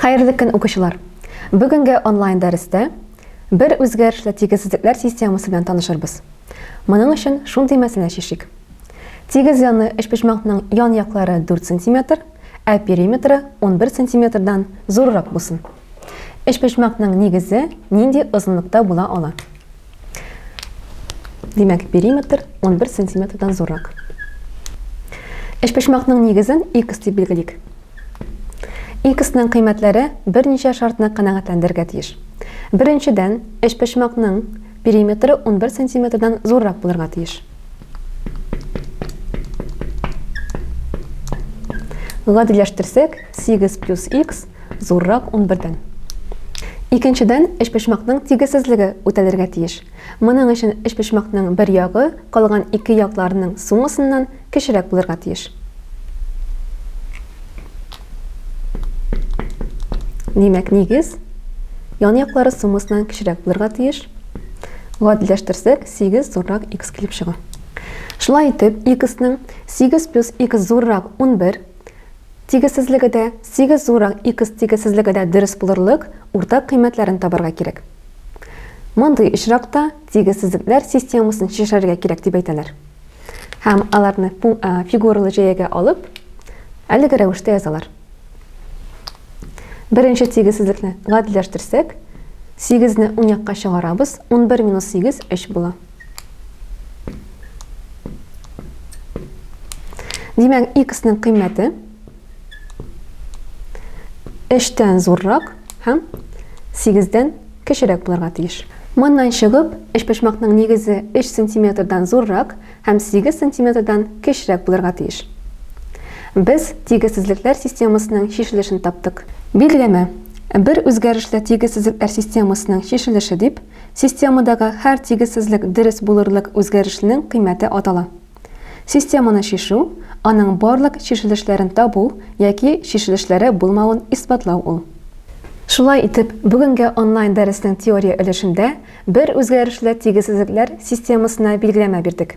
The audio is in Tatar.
Хәерле көн, укучылар! Бүгенге онлайн дәрестә бер үзгәрешле тигезсезлекләр системасы белән танышырбыз. Моның өчен шундый мәсьәлә чишик. Тигез яны өчпочмакның ян яклары 4 сантиметр, ә периметры 11 сантиметрдан зуррак булсын. Өчпочмакның нигезе нинди озынлыкта була ала? Димәк, периметр 11 сантиметрдан зуррак. Эшпочмакның нигезен x дип билгелик. X-ның кыйммәтләре берничә шартны канәгатьләндергә тиеш. Беренчедән, эшпочмакның периметры 11 сантиметрдан зуррак булырга тиеш. Гадиләштерсәк, 8 плюс x зуррак унбердән. Икенчедән, өчпочмакның тигезсезлеге үтәлергә тиеш. Моның өчен өчпочмакның бер ягы калган ике якларының суммасыннан кечерәк булырга тиеш. Димәк, нигез янъяклары суммасыннан кечерәк булырга тиеш. Гадиләштерсәк, 8 зуррак x килеп чыга. Шулай итеп, x-ның 8 плюс x зуррак 11 Тигезсезлеге дә, сигез зурак икс тигезсезлеге дә дөрес булырлык уртак кыйммәтләрен табарга кирәк. Мондый очракта тигезсезлекләр системасын чишәргә кирәк дип әйтәләр. Һәм аларны фигуралы җәягә алып, әлеге рәвештә язалар. Беренче тигезсезлекне гадиләштерсәк, 8-не уң якка чыгарабыз, 11 минус 8, 3 була. Димәк, x-ның кыйммәте эштән зуррак һәм 8-дән кечерәк булырга тиеш. Моннан чыгып, эчпочмакның нигезе 3 сантиметрдан зуррак һәм 8 сантиметрдан кечерәк булырга тиеш. Без тигезсезлекләр системасының чишелешен таптык. Билгеләмә. Бер үзгәрешле тигезсезлекләр системасының чишелеше дип Системадагы һәр тигезсезлек дөрес булырлык үзгәрешнең кыйммәте атала. Системаны чишү, аның барлык чишелешләрен табу яки чишелешләре булмавын исбатлау ул. Шулай итеп, бүгенге онлайн-дәреснең теория өлешендә бер үзгәрешле тигезсезлекләр системасына билгеләмә бирдек.